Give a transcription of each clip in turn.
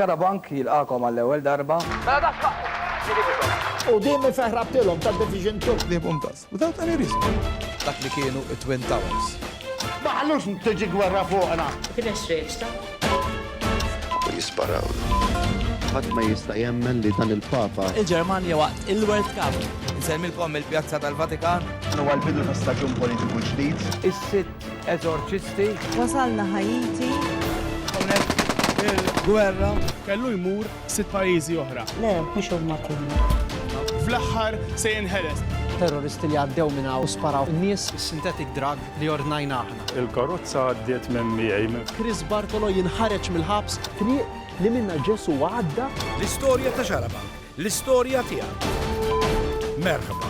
Xarabank jilqagħkom għall-ewwel darba. Mela dax ħaqqu! Ġielidikom! Quddiem ifeħ rabtilhom ta' Division Two. Qliebhom dażż, without any reason. Dak li kienu t-Twin Towers. Ma ħallux tiġi gwerra fuqna! Kien hemm strejġ ta'. U jisparawlu. Ħadd ma jista' jemmen li dan il-Papa. Il-Ġermanja waqt il-World Cup. Insellmilkom mill-Pjazza tal-Vatikan. Dan huwa l-bidu ta' staġun politiku ġdid. Is-Sitt. Eżorċisti. Wasalna Ħaiti. Hawnhekk il-gwerra. Kellu jmur sitt pajjiżi oħra. Le, mhux huma kollha. Fl-aħħar se jinħeles. Terroristi li għaddew minn hawn u sparaw in-nies. Is-synthetic drug li ordnajna aħna. Il-karozza għaddiet minn miegħi. Chris Bartolo jinħareġ mill-ħabs. Triq li minnha Ġesù għadda. L-istorja ta' Xarabank, l-istorja tiegħek. Merħba.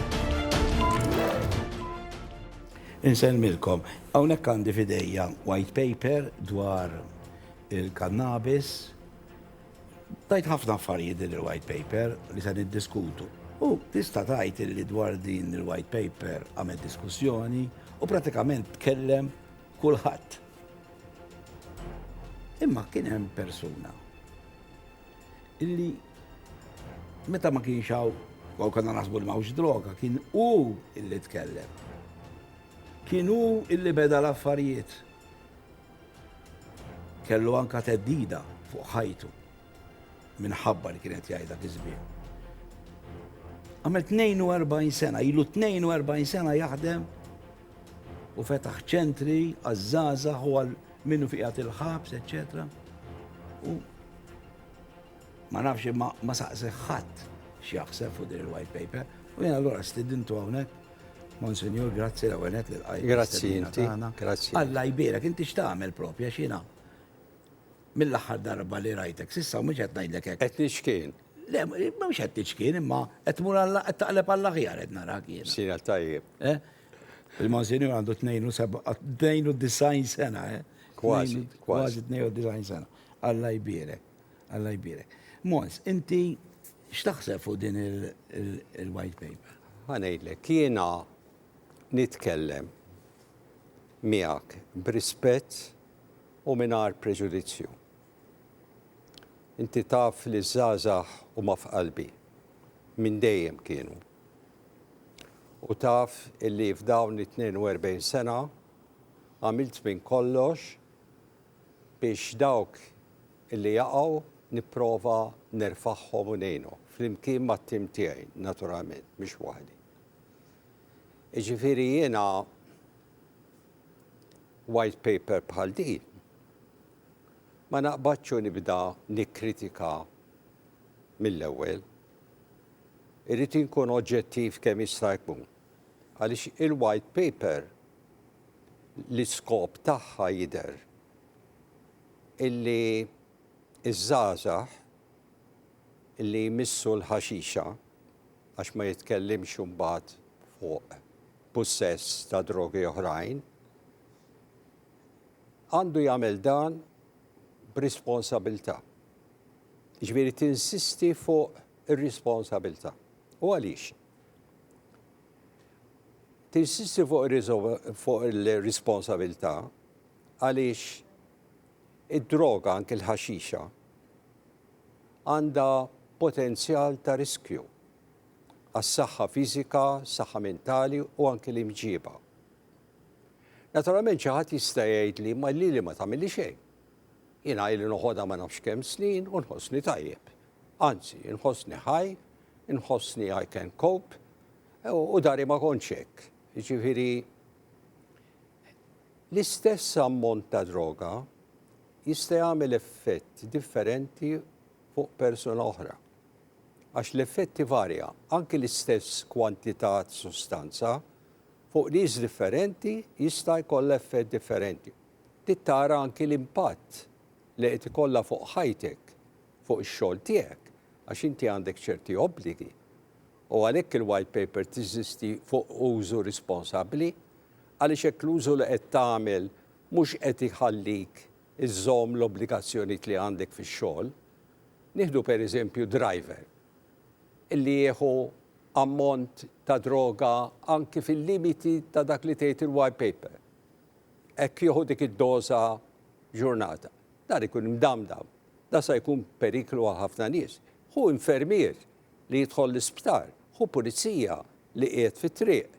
Insellmilkom. Hawnhekk għandi f'idejja white paper dwar il-kannabis. Tgħid ħafna affarijiet din il-white paper li se niddiskutu. U tista' tgħid illi dwar din il-white paper għamel diskussjoni u pratikament tkellem kulħadd. Imma kien hemm persuna illi meta ma kienx hawn kol konna naħsbu li m'hawnx droga, kien hu illi tkellem. Kien hu illi beda l-affarijiet. Kellu anka teddida fuq ħajtu minħabba li kienet jgħidha kisbien. Għamel 42 sena, ilu 42 sena jaħdem u fetaħ ċentri għazzaza u għal Minnu qiegħed il-ħabs, eċċetera. U ma nafx imma ma saqsi ħadd x'jaħseb fuq din il-white paper. U jena allura stidintu hawnhekk Monsignor, grazzi l għenet li l-għajt. Grazzi, grazzi. Alla jbira, kinti xtamel propja xina. Mill-axar darba li rajtek, sissa mux għet najdlek għek. Għet nixkien. Le, mux għet nixkien, imma għet mur għalla, għet taqleb għalla ħjar għet narak jena. Sina tajjeb. Eh? Il-Monsinjur għandu 92 sena, eh? Kważi, kważi 92 sena. Alla jbirek, alla jbirek. Mons, inti x'taħseb fuq din il-white paper? Għanejlek, kiena nitkellem miegħek b'rispett u mingħajr preġudizzju. Inti taf li żgħażagħ huma f'qalbi minn dejjem kienu. u taf illi f'dawn it-42 sena għamilt minn kollox biex dawk illi jaqgħu nipprova nerfagħhom u ngħinhom, flimkien mat-tim tiegħi naturalment, mhux waħdi. Jiġifieri jiena white paper bħal din ma naqbadx u nibda nikkritika mill-ewwel. Irrid inkun oġġettiv kemm jista' jkun għaliex il-White Paper l-iskop tagħha jidher illi ż-żgħażagħ li jmissu l-ħaxixa, għax ma jitkellimx imbagħad fuq pussess ta' drogi oħrajn, għandu jagħmel dan b'responsabilità. Jiġifieri tinsisti fuq ir-responsabilità. U għaliex? Tinsisti fuq il-responsabilità għaliex id-droga anke l-ħaxixa għandha potenzjal ta' riskju għas-saħħa fiżika, saħħa mentali u anke l-imġiba. Naturalment xi ħadd jista' jgħid li ma lili ma tagħmilli xejn. Jiena ili noħodha ma nafx kemm snin u nħossni tajjeb. Anzi, inħossni ħaj, inħossni I can cope, u dari ma kontx hekk. Jiġifieri l-istess ammont ta' droga jista' jagħmel effett differenti fuq persuna oħra. Għax l-effetti varja, anki l-istess kwantità ta' sustanza fuq nies differenti jista' jkollha effett differenti. Tittara anki l-impatt li qed ikollha fuq ħajtek fuq ix-xogħol tiegħek għax inti għandek ċerti obbligi u għalhekk il-White Paper tiżisti fuq użu risponsabbli għaliex hekk l-użu li qed tagħmel mhux qed iħallik iżżomm l-obbligazzjonijiet li għandek fix-xogħol. Nieħdu pereżempju driver illi jieħu ammont ta' droga anki fil-limiti ta' dak li tgħid il-White Paper. Hekk jieħu dik id-doża f'ġurnata. Dan ikun imdamdam. Dan sa jkun periklu għal ħafna nies. Ħu infermier li jidħol l-isptar. Ħu pulizija li qiegħed fit-triq.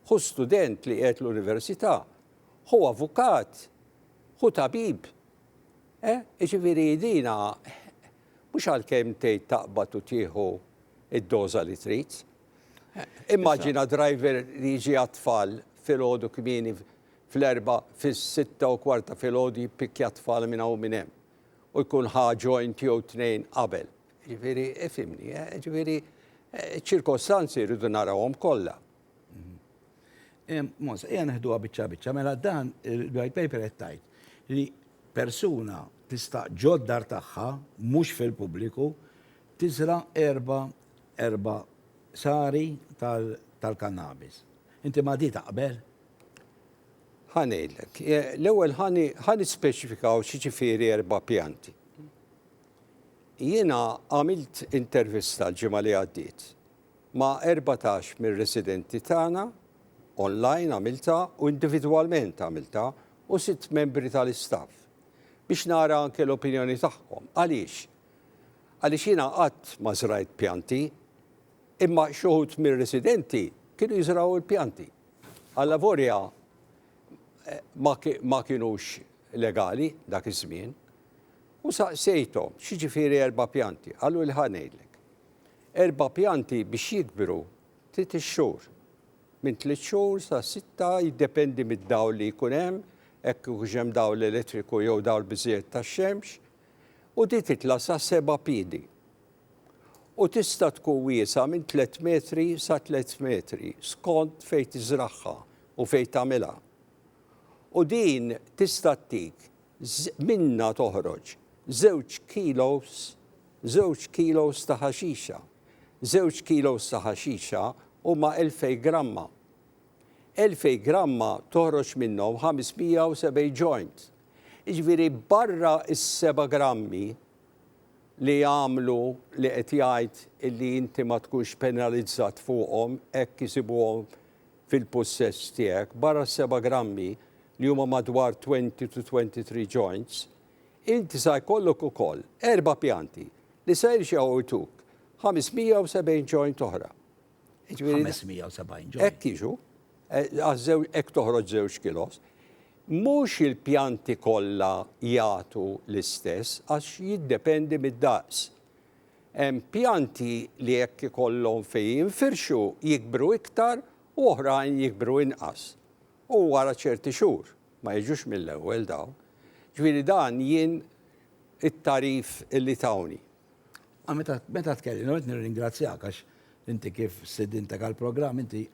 Ħu student li qiegħed l-università. Ħu avukat. Ħu tabib. Eh, jiġifieri dina mhux għalkemm tgħid taqbad u tieħu id-doża li trid. Immaġina driver li jiġi għat-tfal filgħodu kmieni fl-Erbgħa fis-sitta u kwart ta' filgħodu jippikkja t-tfal minn hawn u minn hemm u jkun ħa joint jew tnejn qabel. Jiġifieri, ifhimni, eh, jiġifieri, eh, iċ-ċirkostanzi rridu narawhom kollha. Mhm. Mons, ejja neħduha biċċa biċċa, mela dan il-white paper qed tgħid li persuna tista' ġoddar tagħha mhux fil-pubbliku tiżra erba erba sari tal-kannabis. Inti ma di taqbel? Ħa ngħidlek. L-ewwel ħa nispeċifikaw x'jiġifieri erba' pjanti. Jiena għamilt intervista l-ġimgħa li għaddiet ma' 14 mir-residenti tagħna, online għamiltha u individwalment għamiltha, u sitt membri tal-istaff biex nara anke l-opinjoni tagħhom. Għaliex? Għaliex jiena qatt ma żrajt pjanti Imma xi wħud mir-residenti kienu jiżrgħu l-pjanti. Allavorja ma kinux legali dak iż-żmien. U saqsejthom, x'jiġifieri erba' pjanti? Qaluli ħa ngħidlek. Erba' pjanti biex jikbru trid ix-xhur. Minn tliet xhur sa sitta jiddependi mid-dawl li jkun hemm, hekk ikunx hemm dawl elettriku jew dawl biżżejjed tax-xemx, u din titla' sa seba' piedi. u tista' tkun wiesgħa minn tliet metri sa tliet metri skont fejn tiżragħha u fejn tagħmilha. U din tista' ttik minnha toħroġ żewġ kilos żewġ kilos ta' ħaxixa. Żewġ kilos ta' ħaxixa huma elfejn gramma. Elfejn gramma toħroġ minnhom 570 joint. Jiġifieri barra s-seba' grammi li jagħmlu li qed jgħid illi inti ma tkunx penalizzat fuqhom hekk isibuhom fil-pussess tiegħek, barra s-seba' grammi li huma madwar 20 to 23 joints, inti sa jkollok ukoll erba' pjanti li sa jirġgħu jtuk 570 joint oħra. 570 ġo. Hekk jiġu, eh, għażew hekk toħroġ żewġ kilos. Mhux il-pjanti kollha jagħtu l-istess għax jiddependi mid-daqs. Hemm pjanti li hekk ikollhom fejn jinfirxu jikbru iktar u oħrajn jikbru inqas. U wara ċerti xhur ma jiġux mill-ewwel dawn. Ġifieri dan jien it-tarif li tawni. Ah, meta, meta tkellim, għed nirringrazzjak għax inti kif sidintek għal-programm, inti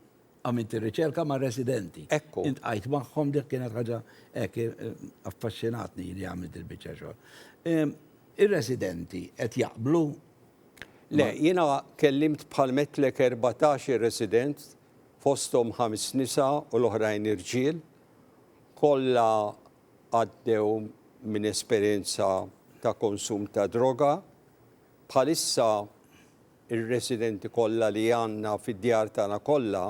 għamilt ir-riċerka ma' residenti. Ekku. Int għajt maħħom dik kienet ħaġa ek eh, affaxxinatni li għamilt il-bicċa xogħol. Ehm, ir-residenti qed jaqblu Le, jiena kellimt bħal metlek 14 resident fosthom ħames nisa u l-oħrajn irġiel kollha għaddew minn esperjenza ta' konsum ta' droga. Bħalissa r-residenti kollha li għandna fid-djar tagħna kollha,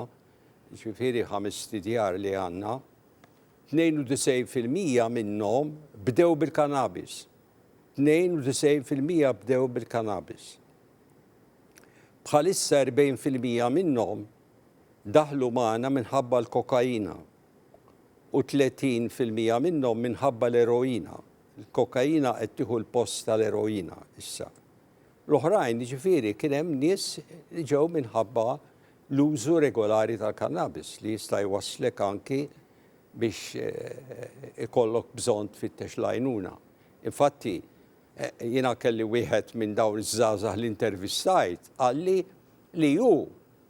jiġifieri ħamest idjar li għandna, 92 fil-mija minnhom bdew bil-kannabis. 92 fil-mija bdew bil-kannabis. Bħalissa 40 fil-mija minnhom daħlu magħna minħabba l-kokaina. 38 fil-mija minnhom minħabba l-eroina. Il-kokaina qed tieħu l-post tal-eroina issa. L-oħrajn, jiġifieri kien hemm nies li ġew minħabba l-użu regolari tal-kannabis li jista' jwasslek anki biex eh, ikollok bżonn tfittex l-għajnuna. Infatti, eh, jiena kelli wieħed minn dawn iż-żgħażagħ li intervistajt qalli li hu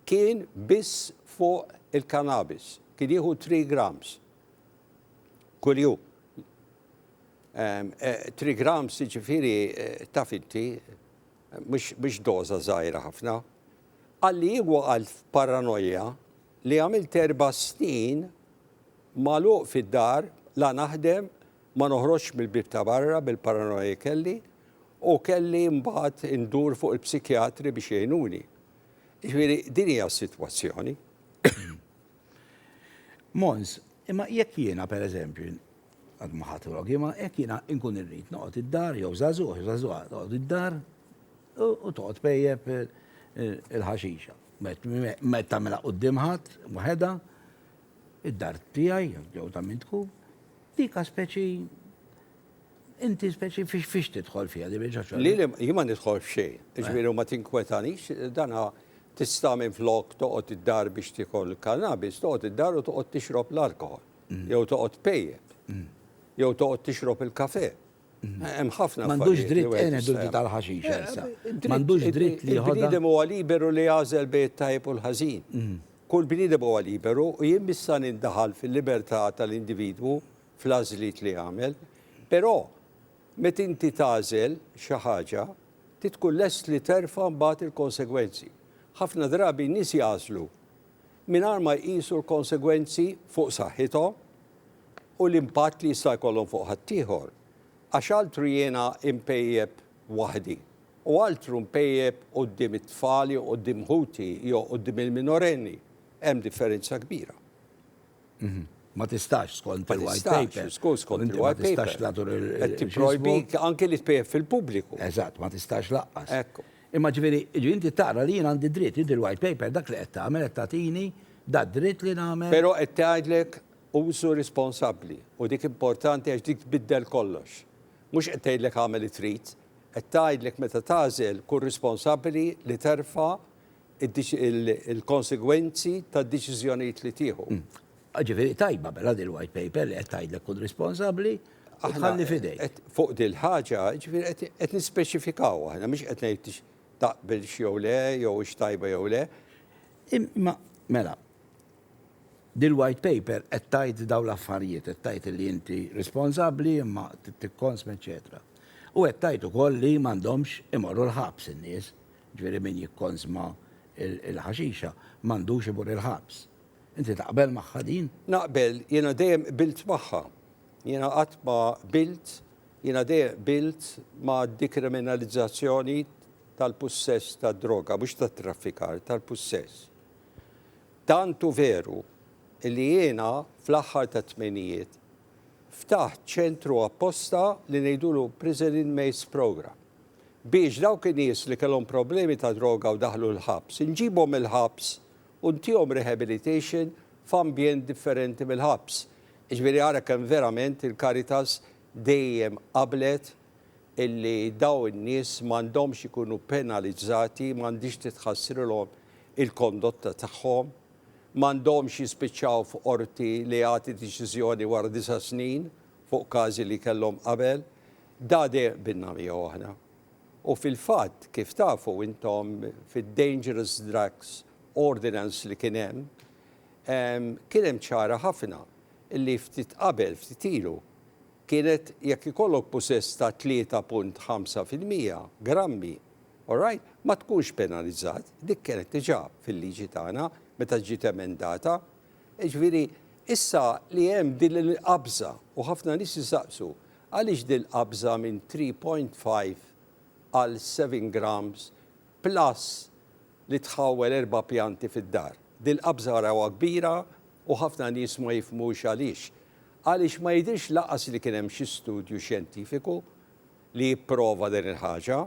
Kien biss fuq il-cannabis. Kien jieħu three grams kuljum. Three grams jiġifieri taf inti mhux doża żgħira ħafna. Qalli hu għal f'paranoja li għamilt erba' snin magħluq fid-dar la naħdem ma noħroġx mill-bieb ta' barra bil-paranoja li kelli u kelli mbagħad indur fuq il-psikjatri biex jgħinuni. Jiġifieri din hija s-sitwazzjoni. Mons, imma jekk jiena pereżempju, għad ma ħadt rogi, imma jekk jiena nkun irrid noqgħod id-dar jew żagħżugħ, jew żagħżugħa toqgħod id-dar u toqgħod pejjep il-ħaxixa. Meta tagħmilha quddiem ħadd waħedha, id-dar tiegħi jew ta' min tkun, dik speċi Inti speċi fiex fiex tidħol fiha din il-ġoċol? Li li jien ma nidħol f'xejn, jiġifieri u ma tinkwetanix, dana tista' minflok toqgħod id-dar biex tiekol il-kannabis, toqgħod id-dar u toqgħod tixrob l-alkoħol, jew toqgħod pejjep, jew toqgħod tixrob il-kafè. Hemm ħafna M'għandux affarijiet li dritt wieħed għena jista' dulti tal-ħaxix Elsa. Dritt- M'għandux id- dritt li jħodha. Il-bniedem huwa liberu li jagħżel bejn it-tajjeb u l-ħażin. Kull bniedem huwa liberu u jien missa nindaħal fil-libertà tal-individwu fl-għażliet li jagħmel, però meta inti tagħżel xi ħaġa trid tkun lest li terfa' mbagħad il-konsegwenzi. Ħafna drabi n-nies jagħżlu mingħajr ma jqisu l-konsegwenzi fuq saħħithom u l-impatt li jista' jkollhom fuq ħaddieħor. Għax altru jiena mpejjep waħdi u altru mpejjep quddiem it-tfal jew quddiem ħuti jew quddiem il-minorenni, hemm differenza kbira. Ma tistax skont il-white paper. Skont skont il-white paper. Ma tistax tagħtur il- Qed tipprojbik anke li tpejjep fil-pubbliku. Eżatt, ma tistax laqqas. Hekk hu. Imma ġifieri, ġifieri inti tara li jien għandi dritt, inti l-white paper dak li qed tagħmel qed tagħtini dad-dritt li nagħmel. Però qed tgħidlek użu responsabbli u dik importanti għax dik tbiddel kollox. Mhux qed tgħidlek agħmel li trid, qed tgħidlek meta tagħżel kun responsabbli li terfa' il-konsegwenzi tad-deċiżjonijiet li tieħu. Ġifieri tajba mela din il-White Paper li qed tgħidlek kun responsabbli u tħalli f'idejk. Fuq din il-ħaġa, ġifieri qed nispeċifikaw aħna, mhux qed ngħid taqbilx jew le, jew hix tajba jew le. Imma, mela, din il-White Paper qed tgħid dawn l-affarijiet, qed tgħid li inti responsabbli imma tikkonsma, eċċetera. U qed tgħid ukoll li m'għandhomx imorru l-ħabs in-nies Jiġifieri min jikkonsma l-ħaxixa m'għandux imur il-ħabs. Inti taqbel magħha din? Naqbel, jiena dejjem qbilt magħha. Jiena qatt ma qbilt, jiena dejjem qbilt mad-dikriminalizzazzjoni tal-pussess tad-droga, mhux tat-traffikar, tal-pussess. Tant hu veru li jiena fl-aħħar tat-tmenijiet ftaħt ċentru apposta li ngħidulu Prison Inmates Programme. biex dawk in-nies li kellhom problemi ta' droga u daħlu l-ħabs, inġibhom mill-ħabs u ntihom rehabilitation f'ambjent differenti mill-ħabs. Jiġifieri ara kemm verament il-Caritas dejjem qablet illi dawn in-nies m'għandhomx ikunu penalizzati, m'għandhiex titħassrilhom il-kondotta tagħhom, m'għandhomx jispiċċaw f'qorti li jagħti deċiżjoni wara disa' snin fuq każi li kellhom qabel. Dade binna miegħu aħna. U fil-fatt, kif tafu intom, fid-Dangerous Drugs Ordinance li kien hemm, kien hemm ċara ħafna li ftit qabel, ftit ilu, kienet jekk ikollok pusess ta' 3.5 fil-mija, grammi, alright, ma tkunx penalizzat, dik kienet diġà fil-liġi tagħna meta ġiet emendata. Jiġifieri, issa li hemm din il-qabża u ħafna nies isaqsu, Għaliex din qabża minn 3.5 għal 7 grams plus li tħawwel erba' pjanti fid-dar? Dil qabża arawha kbira u ħafna nies ma jifhmux għaliex. Għaliex ma jidhirx lanqas li kien hemm xi studju xjentifiku li jipprova din il-ħaġa.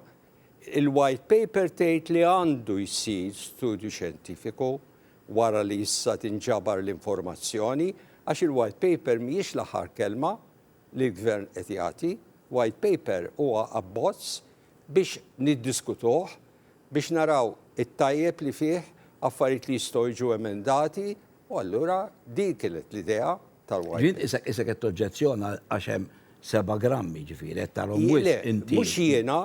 Il-white paper tgħid li għandu jsir studju xjentifiku wara li issa tinġabar l-informazzjoni għax il-white paper mhijiex l-aħħar kelma. li l-Gvern qed jagħti, White Paper huwa abbozz biex niddiskutuh, biex naraw it-tajjeb li fih, affarijiet li jistgħu jiġu emendati u allura din kienet l-idea tal-White Paper. Jien qisek qed toġġezzjona għax hemm seba' grammi, jiġifieri qed tarahom wisq inti. Le, mhux jiena,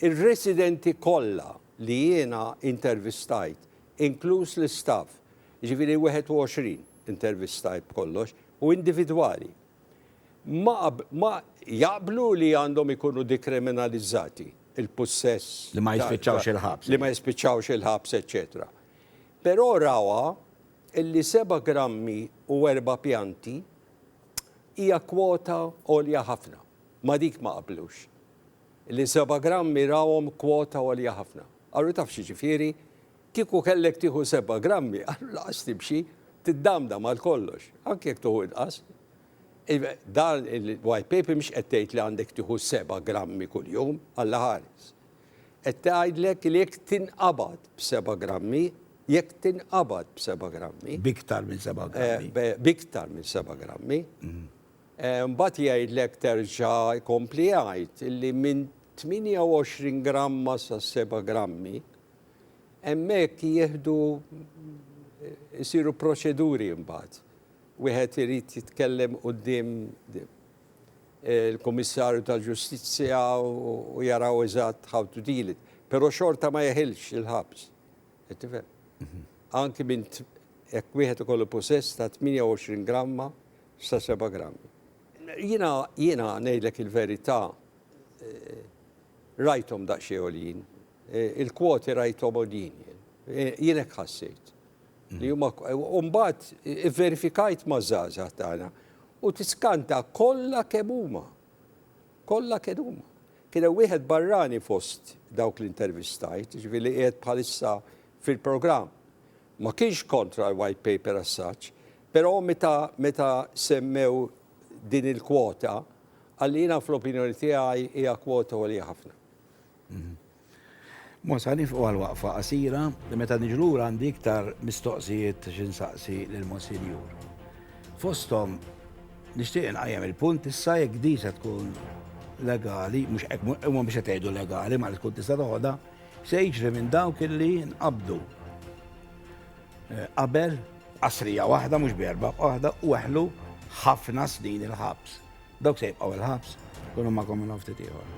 ir-residenti kollha li jiena intervistajt, inkluż l-istaff, jiġifieri 21 intervistajt b'kollox, u individwali ma ma jaqblu li għandhom ikunu dikriminalizzati il-pussess Li ma jispiċċawx il-ħabs. li ma jispiċċawx il-ħabs eċċetera. Però rawha li seba' grammi u erba' pjanti hija kwota għolja ħafna. Ma' dik ma qablux. Li seba' grammi rawhom kwota għolja ħafna. Qalu taf x'jiġifieri? Kieku kellek tieħu seba' grammi, allura lanqas timxi, tiddamdam għal kollox, anke jekk tieħu inqas. Iva, dan il-white paper mhix qed tgħid li għandek tieħu seba' grammi kuljum, Alla ħares. Qed tgħidlek li jekk tinqabad b'seba' grammi, jekk tinqabad b'seba' grammi. B'iktar minn seba' grammi. B'iktar minn seba' grammi. Mbagħad jgħidlek terġa' jkompli jgħid li minn 28 gramma sa 7 grammi, Hemmhekk jieħdu jsiru proċeduri mbagħad. Wieħed irid jitkellem quddiem il-Kummissarju tal-Ġustizzja u jaraw eżatt how to deal it. Però xorta ma jeħilx il-ħabs. Qed tifhem? Mhm. Anki minn jekk wieħed ikollu possess ta' 28 gramma sa 7 grammi. Jiena jiena ngħidlek il-verità eh, rajthom daqsxejn Il-kwoti rajthom għoljin jien. Jien hekk ħassejt. Li huma u mbagħad ivverifikajt maż-żgħażagħ tagħna u tiskanta kollha kemm huma. Kollha kemm huma. Kien hemm wieħed barrani fost dawk li intervistajt, ġifieri li qiegħed bħalissa fil-programm. Ma kienx kontra l-white paper as such, però meta meta semmew din il-kwota, qalli jiena fl-opinjoni tiegħi hija kwota għolja ħafna. Mosha nifqu għal waqfa qasira, meta niġu lura għandi iktar mistoqsijiet xi nsaqsi lill-Monsinjur. Fosthom, nixtieq inqajjem il-punt issa jekk din se tkun legali, mhux hekk huma biex qed jgħidu legali ma li tkun tista' toħodha, se jiġri minn dawk illi nqabdu eh, qabel qasrija waħda mhux berba waħda u eħlu ħafna snin il-ħabs. Dawk se jibqgħu il-ħabs, kunu magħkom minn hawn ftit ieħor.